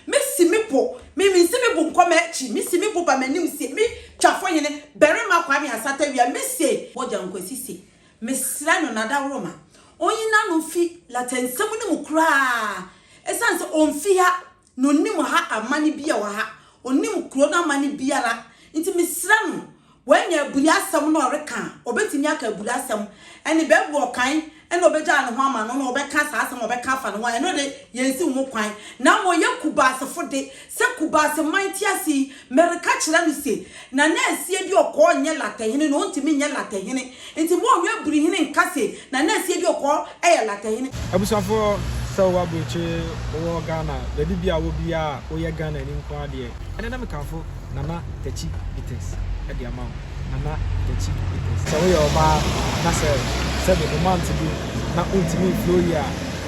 Mesi me bo, me misi me bo nkɔ m'akyi, mesi me bo ba m'anim se me Twafo Hene Barima Kwame Asata-Wiah, mese, Mogya Nkwasi se mesrɛ no n'adaworoma ɔnyi n'ano mfi Lata nsɛm no mu koraa, ɛsiane sɛ ɔmfi ha na ɔnnim ha amane biara wɔ ha, ɔnnim kuro no amane biara, nti mesrɛ no Wanya aburi asɛm na ɔreka a, ɔbɛtumi aka aburi asɛm ne Bible ɔkan na ɔbɛgyaa ne ho ama no na ɔbɛka saa asɛm a ɔbɛka afa ne ho a, ɛno de, yɛnsiw ho kwan. Na ama ɔyɛ Kubaasefo de, sɛ Kubaase man te ase yi, mereka kyerɛ no se, Nana Asiedie Ɔkɔɔ nyɛ Latahene na ɔntumi nyɛ Latahene. Nti mo ɔwɛ buri hene nka se na na asie bi ɔkɔɔ ɛyɛ lata hene. Abusuafoɔ sɛ wowɔ abrokyire wowɔ Ghana baabi bia wɔ biaa a woyɛ Ghanani nkoaa deɛ ɛnɛ na mekamfo Nana Takyi Bites de ama wo Nana Takyi Bites. Sɛ woyɛ ɔbaa na sɛ sɛbi wo month du na wontumi nflow yie a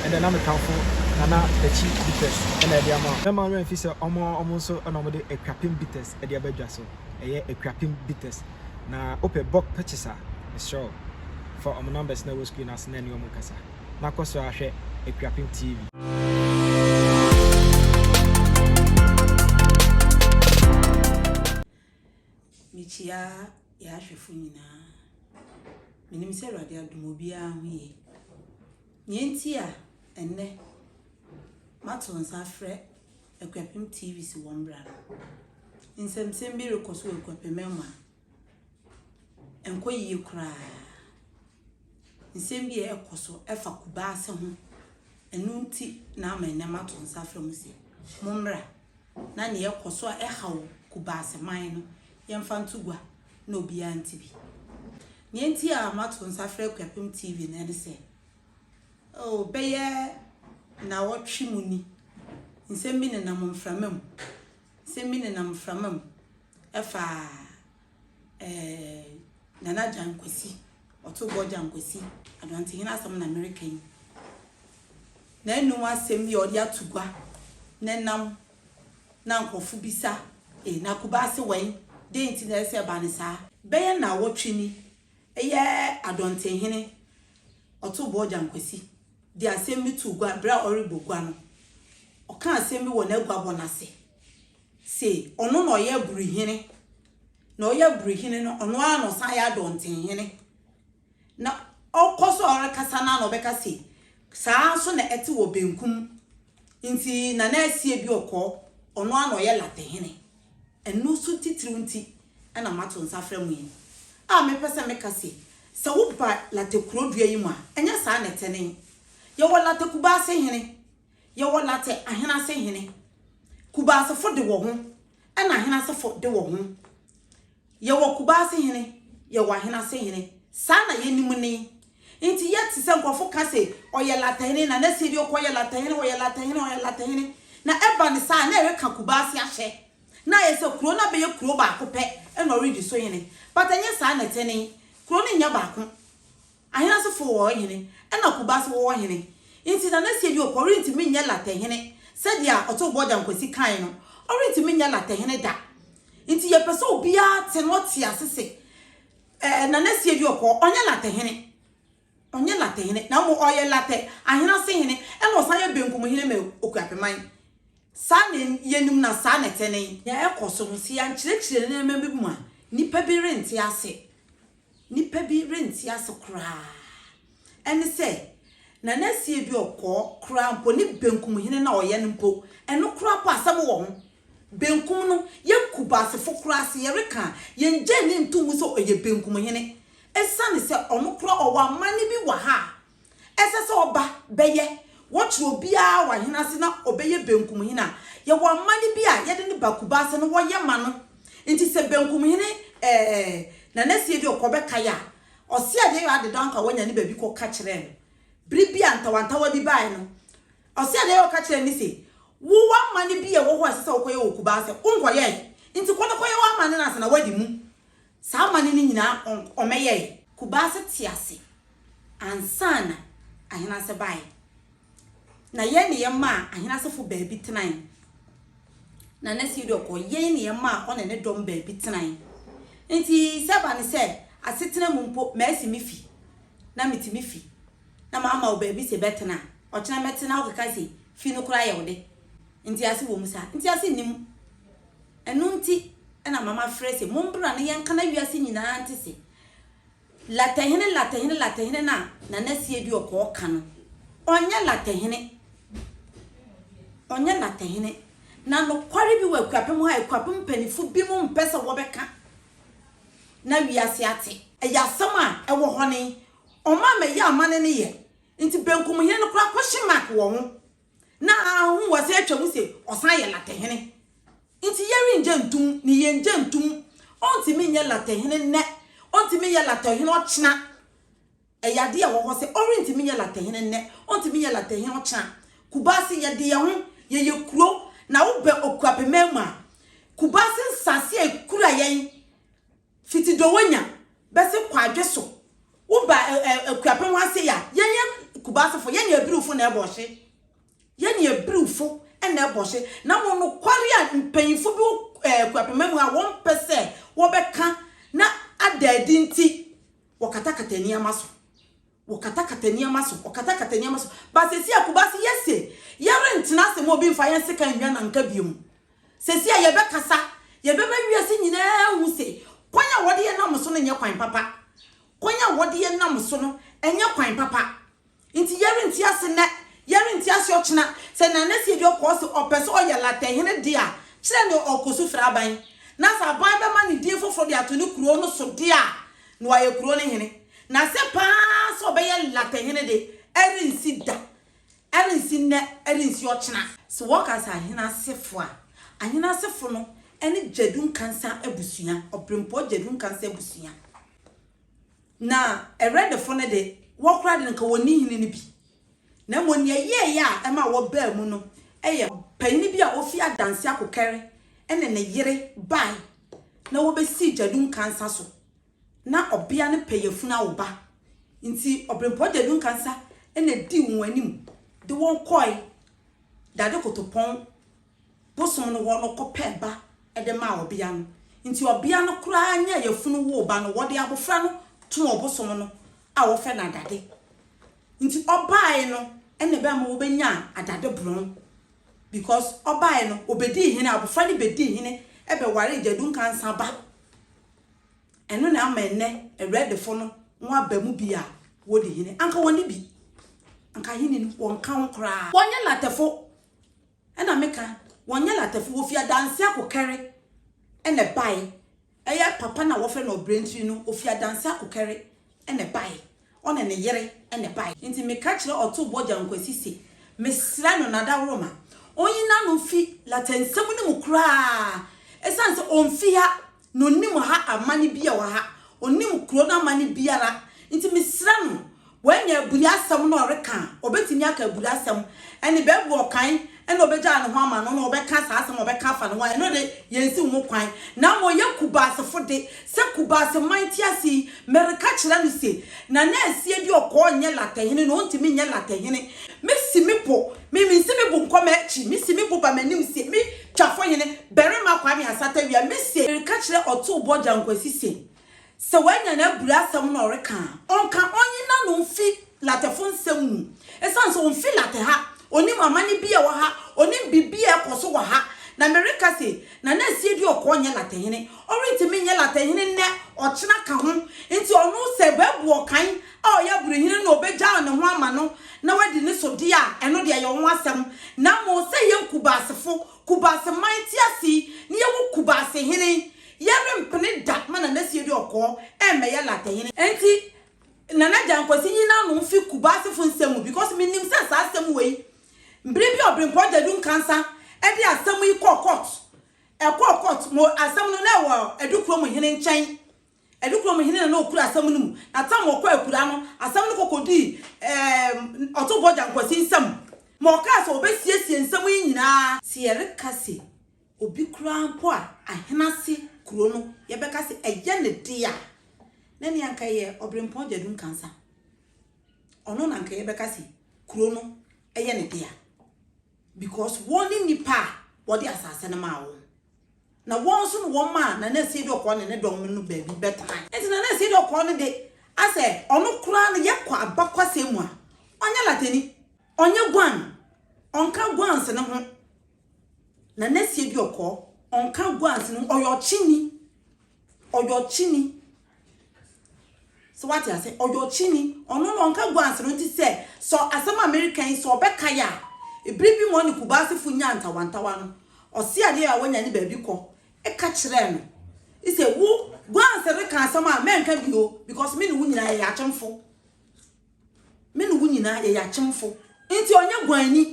ɛnɛ na mekamfo Nana Takyi Bites na ɛde ama wo. Mɛma wo werɛ mfi sɛ ɔmo ɔmo nso na ɔmo de Akuapem Bites de aba dwa so ɛyɛ Akuapem Bites. na wopɛ bulk purchase a, mesrɛ wo fa wɔn numbers no a ɛwɔ screen no ase na ɛne wɔn nkasa, na kɔ so ara hwɛ Akuapem TV. Mekyia yɛn ahwɛfo nyinaa. Menim sɛ Awurade adom obiara ho yie. Nea enti a ɛnnɛ mato nsa afrɛ Akuapem TV si wɔn bra no. Nsɛmnsɛm bi rekɔ so wɔ Akuapemman mu a ɛnkɔ yiye koraa. Nsɛm bi a ɛkɔ so fa Kubaase ho. Ɛno nti na ama nnɛ mato nsa afrɛ mo se mommra na nea ɛkɔ so a ɛhaw Kubaase man no yɛmfa nto gua na obiara nte bi. Nea nti a mato nsa afrɛ Akuapem TV no ne sɛ Oh, bɛyɛ nnawɔtwe mu ni, nsɛm bi nenam mframa mu, nsɛm bi nenam mframa mu ɛfa ɛɛ Nana Gyan Kwasi, Ɔtobɔ Gyan Kwasi, Aduantehene asɛm na mereka yi. N'anum asɛm bi a ɔde ato gua nenam na nkurɔfo bisa, ee, na Kubase wɛn, dɛn nti na ɛsɛ sɛ ɛba no saa? Bɛyɛ nnawɔtwe ni, Ɛyɛ Adɔntenhene Ɔtobɔɔ Gyankwasi de asɛm bi too gua berɛ a ɔrebɔ gua no. Ɔkaa asɛm bi wɔ n'aguabɔ no ase se ɔno na ɔyɛ Aburuhene, na ɔyɛ Aburuhene no ɔno ara na ɔsan yɛ Adɔntenhene. Na ɔkɔ so a ɔrekasa no ara na ɔbɛka se saa ara nso na ɛte wɔ benkum nti Nana Asie Duɔkɔɔ ɔno ara na ɔyɛ Latehene. Ɛno so titiriw nti na mato nsa afrɛ mo yi a, mepɛ sɛ meka se, sɛ woba Late kurodua yi mu a, ɛnyɛ saa na ɛtene. Yɛwɔ Late Kubaase hene, yɛwɔ Late Ahenase hene. Kubaasefo de wɔ ho na Ahenasefo de wɔ ho. Yɛwɔ Kubaase hene, yɛwɔ Ahenase hene. Saa na yɛnim ne. Nti yɛte sɛ nkurɔfo ka se, ɔyɛ Late hene, na na sie bi, ɔkɔyɛ Late hene, ɔyɛ Late hene, ɔyɛ Late hene. Na ɛba no saa a, na ɛreka Kubaase ahyɛ Na ayɛ sɛ kurow no abɛyɛ kurow baako pɛ na ɔredi so hene, but ɛnyɛ saa na ɛte. Ne kurow no nyɛ baako. Ahenasefo wɔ hɔ hene, ɛnna Kuba nso wɔ hɔ hene. Enti Nana Sieduokwor rentumi nyɛ Larteh hene sɛdeɛ Ɔtow Bɔgya Nkwasi kae no, ɔrentumi nyɛ Larteh hene da. Enti yɛpɛ sɛ obiara te na ɔte ase se, eh, Nana Sieduokwor, ɔnyɛ Larteh hene. Ɔnyɛ Latɛhene, na mmom ɔyɛ Latɛ ahenase hene, ɛna ɔsan yɛ Benkum hene ma Okuapeman. Saa na yɛnim na saa na ɛte nen. Nea ɛkɔ so no, sɛ yɛankyerɛkyerɛ nneɛma bi mu a, nnipa bi rente ase. Nnipa bi rente ase koraa. Ɛne sɛ, Nanasie Duor kɔɔ koraa mpo, ne Benkum hene no a ɔyɛ no mpo, ɛno koraa mpo asɛm wɔ ho. Benkum no, yɛ Kubasefo koraa se yɛreka a, yɛnngyae no nto mu sɛ ɔyɛ Benkum hene. Esiane sɛ ɔno koraa ɔwɔ amanne bi wɔ ha a ɛsɛ sɛ ɔba bɛyɛ, wɔkyere obiara wɔ ahene ase na ɔbɛyɛ Benkum hene a, yɛwɔ amanne bi a yɛde no ba Kubase na wɔyɛ ma no. Nti sɛ Benkum hene ɛɛ Nana Siedi ɔkɔ bɛkae a, ɔse adeɛ yɔ adedaw anka wanya ne baabi kɔ ka kyerɛɛ no. Bere bi a ntawantawa bi bae no, Ɔsee anee ɔka kyerɛɛ me se, Wo wɔ amanne bi a ɛwɔ hɔ a ɛsɛ sɛ wokɔyɛ wɔ Kubaa sɛ wonkɔyɛɛe, nti kɔ na kɔyɛ w'amanne no ansa na woadi mu. Saa amanne no nyinaa ɔmɛyɛɛe. Kubaa se te ase ansa na Ahenase baeɛ. Na yɛn ne yɛn maa Ahenasefo baabi tenae. Na Nurse Yodel kɔ yɛn ne yɛn maa ɔne ne dɔm baabi tenae. Nti sɛ ɛba ne sɛ asetena mu mpo masi me fi na mete me fi. na mama wo baabi se bɛtena, ɔkyena mɛte na wokeka se fie no koraa yɛ wo de. Ntease wɔ mu saa? Ntease nni mu. Ɛno nti na mama frɛ se mombra na yɛnka na wiase nyinaa nte se Latahene, Latahene, Latahene no a Nana Sieduɔkɔɔ ka no. Ɔnyɛ Latahene. Ɔnyɛ Latahene. Na nokware bi wɔ Akuapem hɔ a Akuapem mpanyimfo binom mpɛ sɛ wɔbɛka na wiase ate. Ɛyɛ asɛm a ɛwɔ hɔ ne Ɔman mɛ yɛ amane ne yɛ nti benkum hene no koraa kɔhye mark wɔ ho na ahu wɔsan atwa mu se ɔsan yɛ latte hene nti yɛrengye ntom ne yɛngye ntom ɔntimi nyɛ latte hene nnɛ ɔntimi nyɛ latte hene ɔkyena ɛyɛ adeɛ ɛwɔ hɔ sɛ ɔrentimi nyɛ latte hene nnɛ ɔntimi nyɛ latte hene ɔkyena Kubase yɛde yɛ ho yɛyɛ kuro na wobɛ okuapeman mu a Kubase nsase a ekura yɛn Fiti Dowanya bɛsi Kwadwo so wo ba Akuapem ha sei a, yɛn yɛ Kumasi fo, yɛn yɛ Abriwfo na ɛbɔ hye. Yɛn yɛ Abriwfo na ɛbɔ hye. Na mmom nokware a mpanyimfo bi wɔ Akuapem ha a wɔmpɛ sɛ wɔbɛka na ada adi nti, wɔkatakata nneɛma so. Wɔkatakata nneɛma so, wɔkatakata nneɛma so. Ba sɛsi a Kumasi yɛ se, yɛrentena ase ma obi nfa yɛn sekan nnwa nanka biom. Sɛsi a yɛbɛkasa, yɛbɛma wiase nyinaa ahu se, kwan a wɔde yɛn nam so no nyɛ kwan papa. Kwan a wɔde yɛn nam so no, ɛnyɛ kwan papa. Nti yɛrente ase nnɛ, yɛrente ase ɔkyena. Sɛ Nana Siadio kɔɔ se ɔpɛ se ɔyɛ Latin hene de a, kyerɛ nea ɔrekɔ so fira aban. Na sɛ aban bɛma no din foforo de ato ne kurow no so de a, Na wayɛ kuro no hene. Na sɛ pa ara sɛ ɔbɛyɛ latter hene de, ɛrensi da, ɛrensi nnɛ, ɛrensi ɔkyena. Sɛ wɔka sɛ ahene asefo a, ahene asefo no ne Gyadu Nkansa abusua, Ɔberempɔn Gyadu Nkansa abusua. Na Ɛrɛdefo no de, wɔn koraa de, anka wɔnni hene no bi. na mmom nea ɛyɛeɛ a ɛma wɔbaa mu no yɛ ɔpanyin bi a ofi Adansi Akokɛre ne ne yere bae na wobesii Gyadum Kansa so. Ná ɔbea no pɛ yafunu awo ba, enti Ɔberempɔn Gyadum Kansa na edii wɔn anim de wɔn kɔe dade kotopɔn bosom no hɔ no kɔpɛɛ ba de maa ɔbea no. Enti ɔbea no koraa nyaa yafunu woo ba no. Wɔde abofra no too ɔbosom no a wɔfrɛ no adade nti. Ɔbae no na ɛbɛma wobenyaa adade borɔn because ɔbae no obedii hene, abofra no bedii hene bɛwaree Gyadu Nkansah ba. Ɛno na ama ɛnnɛ Awuradefo no wɔaba mu bi a wodi hene. Anka wɔne bi, anka ahenni no wɔnka ho koraa. Wɔnyɛ Latefo. Ɛna me ka wɔn nyɛ latafo wɔ fie adanse akokɛre ɛna ɛbae ɛyɛ papa no a wɔfrɛ no ɔbrɛntiri no ɔfi adanse akokɛre ɛna ɛbae ɔne ne yere ɛna ɛbae nti me ka kyerɛ ɔtoo bɔgya nkwasi se me srɛ no nadaworoma ɔnyi nano mfi lata nsɛm no mu koraa ɛsiane sɛ ɔmfi ha Na ɔnim ha amanne biara wɔ ha. Ɔnim kuro no amanne biara. Nti mesrɛ no, wanya aburi asɛm na ɔreka a, ɔbɛtumi aka aburi asɛm. Ɛnne Bible ɔkan na ɔbɛgyaa ne ho ama no na ɔbɛka saa asɛm a ɔbɛka afa ne ho a, ɛno de, yɛnsiw ho kwan. Na mmom yɛ Kubaasefo de, sɛ Kubaase man te ase yi, mereka kyerɛ no se, Nana Asie deɛ ɔkɔɔ nyɛ Latɛhene na ɔntumi nyɛ Latɛhene. Mesi me bo, me, mensi me bo nkɔ m'akyi, mesi me bo ba m'anim se, me, Twafo hene barima Kwame Asatawia Mensieɛ reka kyerɛ Ɔtoo Boɔ Gyan Kwasi se, sɛ wanya n'abura asɛm na ɔreka a, ɔnka, ɔnye n'ano mfi Latefo nsɛm mu, esiane sɛ ɔmfi Late ha, ɔnnim amane bi a ɛwɔ ha, ɔnnim biribi a ɛkɔ so wɔ ha. Na mereka se, Nana Asiedue Ɔkɔɔ nyɛ Late hene, ɔrentumi nyɛ Late hene nnɛ, ɔkyena ka ho, nti ɔno sɛ bɛbu ɔkan a ɔyɛ aburohene no na ɔbɛgyaw ne ho ama no na wadi ne so deɛ a, ɛno deɛ ɛyɛ wo ho asɛm. Na mmom sɛ yɛn Kubaasefo, Kubaase man te ase yi, na yɛwɔ Kubaase hene, yɛrempene da ma Nana Asiedu Ɔkɔɔ mmɛyɛ Latte hene. Enti, Nana Agyan Kwasi nyi n'ano mfi Kubaasefo nsɛm mu, because menim sɛ saa asɛm wei, bere bi Ɔbrempɔn Gyadu Nkansa de asɛm yi kɔɔ court, ɛkɔɔ court, mo asɛm no na ɛwɔ Adu Kurom hene nkyɛn, Adukurom hene na na ɔkura asɛm no mu, na tam a ɔkɔɔ akuraa no, asɛm no kɔkɔdii ɛɛm Ɔtomfoɔ Gyankwasi nsam ma ɔkaa sɛ ɔbɛsiesie nsɛm yi nyinaa. Sɛ yɛreka sɛ obi koraa mpo a Ahenase kuro no yɛbɛka sɛ ɛyɛ ne dea a, na nea anka ɛyɛ Ɔberempɔn Gyadum Kansa. Ɔno na anka yɛbɛka sɛ kuro no ɛyɛ ne dea because wɔn ne nnipa a wɔde asase no maa wɔn. Na wɔn nso ne wɔn maa Nana Asiedu Ɔkɔɔ ne ne dɔm no no baabi bɛtenae. Enti Nana Asiedu Ɔkɔɔ no de, asɛ ɔno koraa no yɛkɔ abakwasɛm mu a, ɔnyɛ Latani, ɔnyɛ Guan, ɔnka Guans no ho. Nana Asiedu Ɔkɔɔ, ɔnka Guans no ho, ɔyɛ ɔkyeni, ɔyɛ ɔkyeni. So wate ase? Ɔyɛ ɔkyini. Ɔno no ɔnka guans no nti sɛ sɛ asɛm a mereka yi sɛ ɔbɛka yɛ a, ebere bi mu ɔne Kubaasefo nyaa ntawantawa no, ɔse adeɛ a wanya ne baabi kɔ ka kyerɛɛ no sɛ wo guans reka asɛm a mɛnka bio because me ne wo nyinaa yɛyɛ akyemfo. Me ne wo nyinaa yɛyɛ akyemfo, nti ɔnyɛ guanni.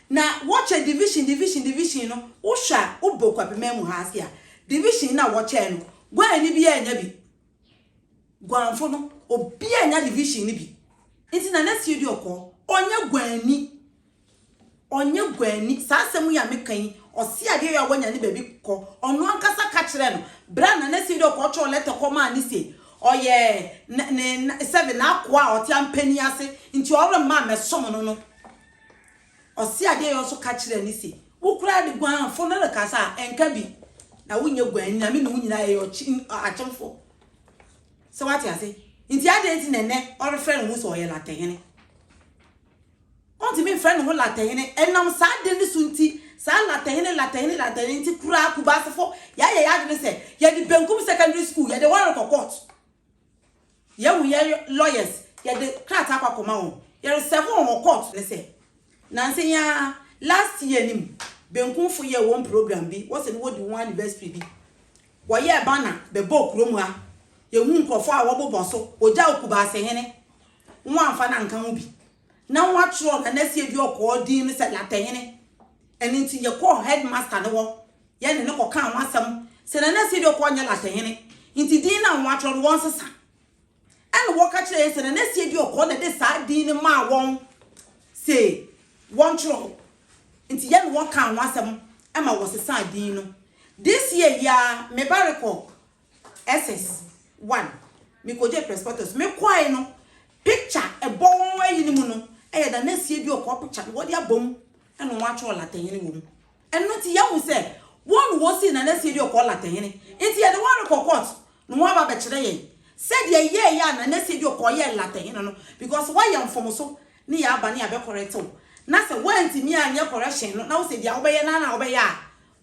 Na wɔkyɛ division, division, division no, wohwɛ a wobɔ Kwabeman mu ha ase a, division no a wɔkyɛɛ no, guanni biara nnya bi. Guanfo no, obiara nnya division no bi. Nti Nana Siodi Ɔkɔɔ, ɔnyɛ guanni. Ɔnyɛ guani. Saa asɛm yi a meka yi, ɔse adeɛ yɛ a wanya ne baabi kɔ. Ɔno ankasa ka kyerɛɛ no. Berɛ a Nana Seidu kɔtwerɛɛ lɛtɛ kɔmaa no se ɔyɛ ne ne sɛbe n'akoa a ɔte ampanin ase nti ɔremma mmɛsom no no, ɔse adeɛ yɛ nso ka kyerɛɛ no se, Wo koraa de guanfo no rekasa a, nka bi. Na wonyɛ guani na me ne wo nyinaa yɛyɛ ɔkye akyemfo. Sɛ woate ase? Nti adɛn nti na ɛnnɛ ɔrefrɛ ne ho se ɔyɛ Latehene? Ontumi mfrɛ ne ho Latɛhene. Ɛnam saa ade no so nti, saa Latɛhene, Latɛhene, Latɛhene nti koraa Kubaasefo yɛayɛ yɛn adwene sɛ yɛde Benkum Secondary School, yɛde wɔn rekɔ court. Yɛahu yɛn lawyers, yɛde krataa kɔ akɔma wɔn. Yɛresɛve wɔn wɔ court no sɛ, nansa yi ara, last year no mu, Benkumfo yɛɛ wɔn program bi, wɔse no wɔdi wɔn anniversary bi. Wɔyɛɛ banner bɛbɔɔ kurom ha. Yɛhuu nkurɔfoɔ a wɔbobɔ so. Wɔgyaa Okubaasehene, wɔamfa no anka ho bi. Na wɔatwerɛ Nana Sieduɔkɔɔ din no sɛ Latɛhene. Ɛno nti yɛkɔɔ Headmaster no hɔ, yɛne no kɔkaa ho asɛm sɛ Nana Sieduɔkɔɔ nyɛ Latɛhene nti din no a wɔatwerɛ no wɔnsesa Ɛnna wɔka kyerɛɛ yɛn sɛ Nana Siadiɔkɔ na ɛde saa din no maa wɔn sɛ wɔntwerɛ hɔ, nti yɛne wɔn kaa ho asɛm ma wɔsesaa din no. This year yi ara, me ba rekɔ SS 1, mekɔgyee Presbytus. Mekɔeɛ no, picture ɛbɔ wɔn ayi no mu no yɛ Nana Siadiɔkɔ picture na wɔde abom na wɔatwerɛ Latin no wɔ mu. Ɛno nti yɛahu sɛ wɔn na wɔsii Nana Siedue kɔɔ Latɛnhene. Nti yɛde wɔn rekɔ court na wɔn aba abɛkyerɛ yɛn sɛdeɛ ɛyɛɛyɛ a Nana Siedue kɔɔ yɛɛ Latɛnhene no because wɔayɛ mfomso ne yɛn aba ne yɛabɛ correct wo. Na sɛ wɔantumi anyɛ correction no na wosɛ deɛ wobɛyɛ no ara na wobɛyɛ a,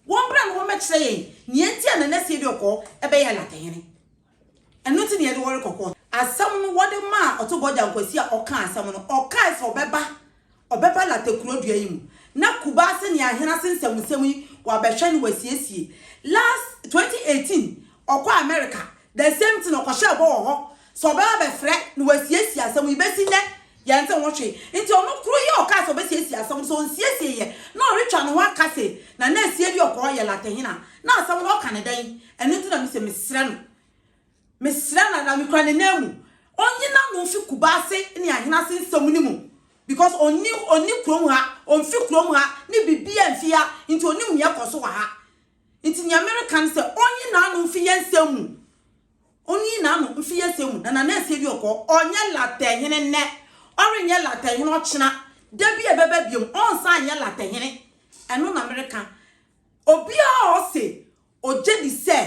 wɔn bra na wɔn bɛkyerɛ yɛn neɛ nti a Nana Siedue kɔɔ ɛbɛyɛɛ Latɛnhene. Ɛno nti na yɛde wɔn rekɔ kɔɔto. Asɛm no wɔde maa Ɔtobɔgya Nkwasi a ɔkaa asɛm no. Ɔkae sɛ ɔbɛba, ɔbɛba Lata kurodua yi mu, na Kubaase ne Ahenase nsɛmnsɛm yi wɔabɛhwɛ ne wɔasiesie. Last, 2018, ɔkɔɔ Amerika, the same thing, ɔkɔhyɛɛ bɔ wɔ hɔ sɛ ɔbɛba abɛfrɛ ne wɔasiesie asɛm yi. Bɛsi nnɛ, Yɛnntse ho hwee, ntsi ɔno kor yi a ɔkaa sɛ obesiesie asɛm no, sɛ onnsiesie yɛ na ɔretwa noho aka se na na esie de ɔkɔɔ yɛ latɛhen a, na asɛm no ɔka no dɛn? Ɛno ntsi na mise mesrɛ no, mesrɛ no anaa mekura n'ananmu, onnye n'ano mfi Kubaase ne Ahenase nsɛm no mu, because onni onni kurom ha, onnfi kurom ha, ne biribiara nnfi ha, ntsi onnim nea ɛkɔ so wɔ ha. Ntsi nea mereka ne sɛ onnye n'ano mfi yɛn nsɛm mu. Onnii n'ano mfii asia mu, na n'anasie de ɔkɔɔ. Ɔnyɛ Latin hene nnɛ, ɔrenyɛ Latin hene ɔkyena. Da bi a ɛbɛba bio, ɔrensan nyɛ Latin hene. Ɛno na mereka. Obiara a ɔse ogye di sɛ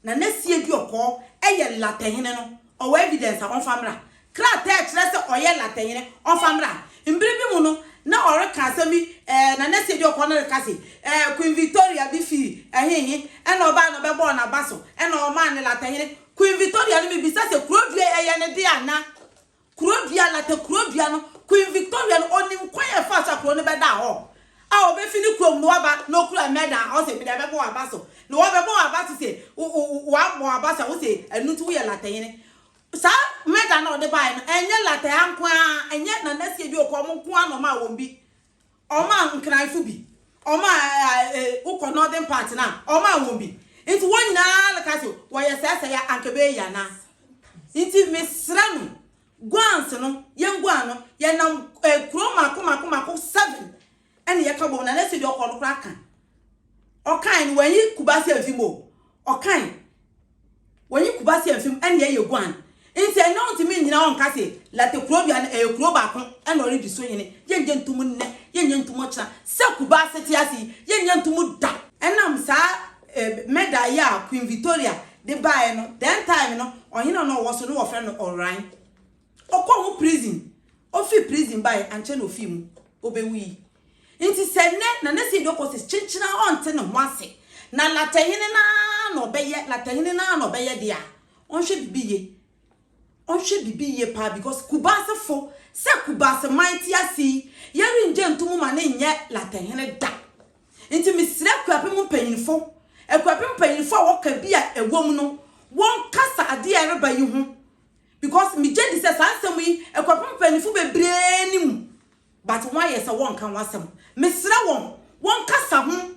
n'anasie de ɔkɔɔ yɛ Latin hene no, ɔwɔ evidence a ɔmfa mmra. Krataa a ɛkyerɛ sɛ ɔyɛ Latinhene ɔfa mmra. Mmere bi mu no, na ɔreka asɛm bi, ɛɛ, na nɛsi adi ɔkɔ no reka se, ɛɛ, Queen Victoria bi fii ɛhehe, ɛna ɔbae na ɔbɛbɔɔ n'aba so, ɛna ɔmaa no Latinhene. Queen Victoria no, mibisa sɛ, kurodua yi, ɛyɛ ne de anaa? Kurodua, Latin kurodua no, Queen Victoria no, onim kwan a ɛfaa so a kurow no bɛdaa hɔ a obefi ne kurom no aba na okura medal a ɔse, mede abɛbɔ w'aba so. Na wɔbɛbɔ w'aba so se, wo, wo, wo, wɔabɔ w'aba so a, wose, ɛno nti woyɛ Latinhene. Saa mega no a ɔde baeɛ no, ɛnyɛ Lataa nko ara, ɛnyɛ Nana Asie Dwooko, wɔn nko ara na wɔmaa wɔn bi. Wɔmaa Nkran nso bi. Wɔmaa eh, wokɔ northern part no a, wɔmaa wɔn bi. Nti wɔn nyinaa no ka sɛ, wɔyɛ sɛɛsɛe a, anka ɛbɛyɛ yie anaa? Nti mesrɛ no, guans no, yɛnguan no, yɛnam eh, kuro mmaako mmaako mmaako seven ɛna yɛka bom na na afei deɛ ɔkɔ no koraa ka ɔkan no wɔnyi Kumasi amfi mu o ɔkan wɔnyi Kumasi amfi mu ɛna yɛyɛ guan nti ɛnɛ ɔntumi nyina ɔnka se late kuro dua no ɛyɛ kuro baako ɛna ɔredi so hene yɛnyɛ ntum nnɛ yɛnyɛ ntum ɔkyena sɛ Kumasi te ase yi yɛnyɛ ntum da ɛnam saa eh, mɛda yi a Queen Victoria de baeɛ no then time no ɔhene a na ɔwɔ so no wɔfrɛ no Ɔran Ɔkɔɔ ho prison, ofii prison bae, ankyɛ na ofii mu, obewui. Enti sɛ nnɛ na na Seyid Okosis kyenkyen a ɔnte ne ho ase na Latin hene no ara na ɔbɛyɛ, Latin hene no ara na ɔbɛyɛ de a, ɔnhwɛ biribi yiye. Ɔnhwɛ biribi yiye paa because Kubaasefo, sɛ Kubaase man te ase yi, yɛrennye nto mu ma no nyɛ Latin hene da. Enti mesrɛ Akuapem mpanyimfo, Akuapem mpanyimfo a wɔka bi a ɛwom no, wɔnkasa ade a ɛreba yi ho Because me gye di sɛ saa nsɛm yi ɛkɔpem mpanyinfo bebree nim but wɔn ayɛ sɛ wɔnka ho asɛm. Me srɛ wɔn, wɔn kasa ho,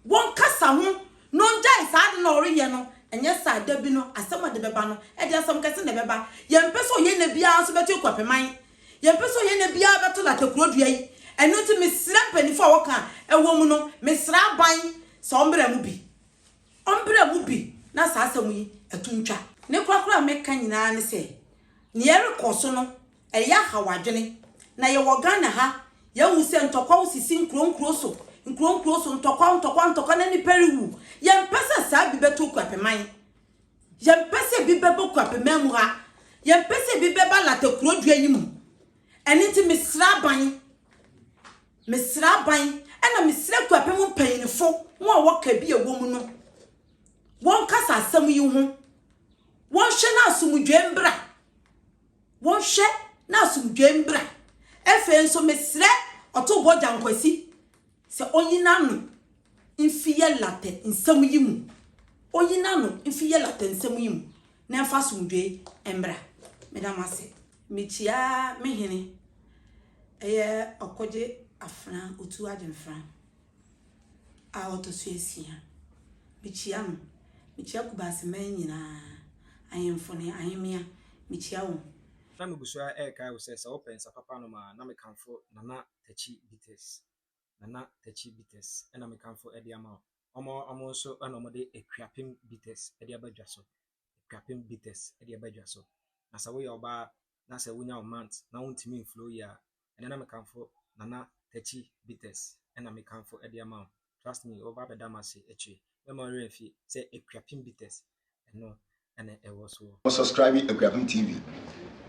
wɔn kasa ho na wɔn gyae saa ade no a wɔreyɛ no, ɛnyɛ saa dabi no asɛm a ɛde bɛba no ɛde asɛm kɛse na ɛbɛba. Yɛn mpɛ sɛ ɔyɛnɛ biara nso bɛto Akuapeman, yɛn mpɛ sɛ ɔyɛnɛ biara bɛto Lata kuro dua yi, ɛno nti me srɛ mpanyinfo a wɔka a ɛwɔ mu no, me srɛ aban sɛ wɔn mmra mu bi. Ɔmbrɛ mu bi na saa asɛm yi to ntwa. Ne korakora a meka nyinaa ne sɛ, nea ɛrekɔ so no, ɛyɛ ahaw adwene. Na yɛwɔ Ghana ha, yɛahu sɛ ntɔkwaw sisi nkurow nkurow so, nkurow nkurow so, ntɔkwaw, ntɔkwaw, ntɔkwaw, na nnipa rewu. Yɛmpɛ sɛ saa bi bɛto Kuapeman. Yɛmpɛ sɛ bi bɛba Kuapeman mu ha. Yɛmpɛ sɛ bi bɛba Latte kurodua yi mu. Ɛno nti mesrɛ aban, mesrɛ aban, ɛna mesrɛ Kuapɛ mu mpanyinfo, mo a wɔka bi ɛwɔ mu no, wɔnkasa asɛm yi ho, wɔnhwɛ na asomdwoe mbra, wɔnhwɛ na asomdwoe mbra. Afei nso mesrɛ Ɔtobɔ Gyankwasi, Sɛ onyi n'ano mfi yɛ latɛ nsɛm yi mu, onyi n'ano mfi yɛ latɛ nsɛm yi mu, na ɛmfa asomdwoe mmra. Meda mo ase. Mikyia me hene ɛyɛ Ɔkogye Afena Otu Agyenfran a ɔtɔ so asia. Mikyia no. Mikyia Kubaseman nyinaa, ahemfo ne ahemmea, mikyia wɔn. Na migu so ara rekae wo sɛ, sɛ wopɛ nsa papa nom a, na mekamfo Nana Tachy Bitters, Nana Tachy Bitters na mekamfo de ama wo. Wɔn wɔn nso na wɔde Akuapem Bitters de aba dwa so. Akuapem Bitters de aba dwa so. Na sɛ woyɛ ɔbaa na sɛ wonya wo month na wontumi mflow yie a, ɛnɛ na mekamfo Nana Tachy Bitters na mekamfo de ama wo. trust me wɔba abɛda m'ase akyire mɛma wo werɛ afi sɛ Akuapem Bites ɛno ɛna ɛwɔ soɔ. Mo subscribe Akuapem TV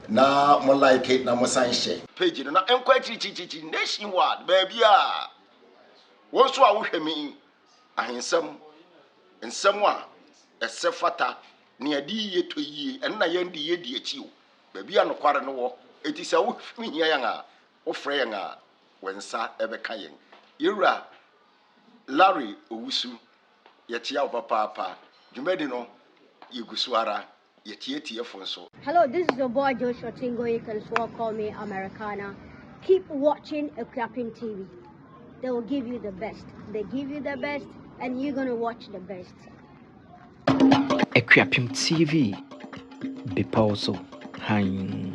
na mo like na mo san hyɛ. Page no na ɛnkɔ akyirikyirikyirikyiri nation wide baabiara wo nso a wohwɛ me yi ahensɛm nsɛm a ɛsɛ fata ne ɛde yiye tɔ yiye ɛno na yɛn de yɛ di akyi o baabi a nokware no wɔ eti sɛ wo hia yɛn a Wofrɛ yɛn a, wo nsa bɛka yɛn. Yɛn wura Larry Owusu, yɛkyea wo papaapa. Dwumadi no, yɛgu so ara. Yɛkyea atiefo nso. Hello this is your boy Joshua Chingo you can swore call me Americana keep watching Akuapem TV they will give you the best they give you the best and you gonna watch the best. Akuapem TV, Bepɔw so Hann.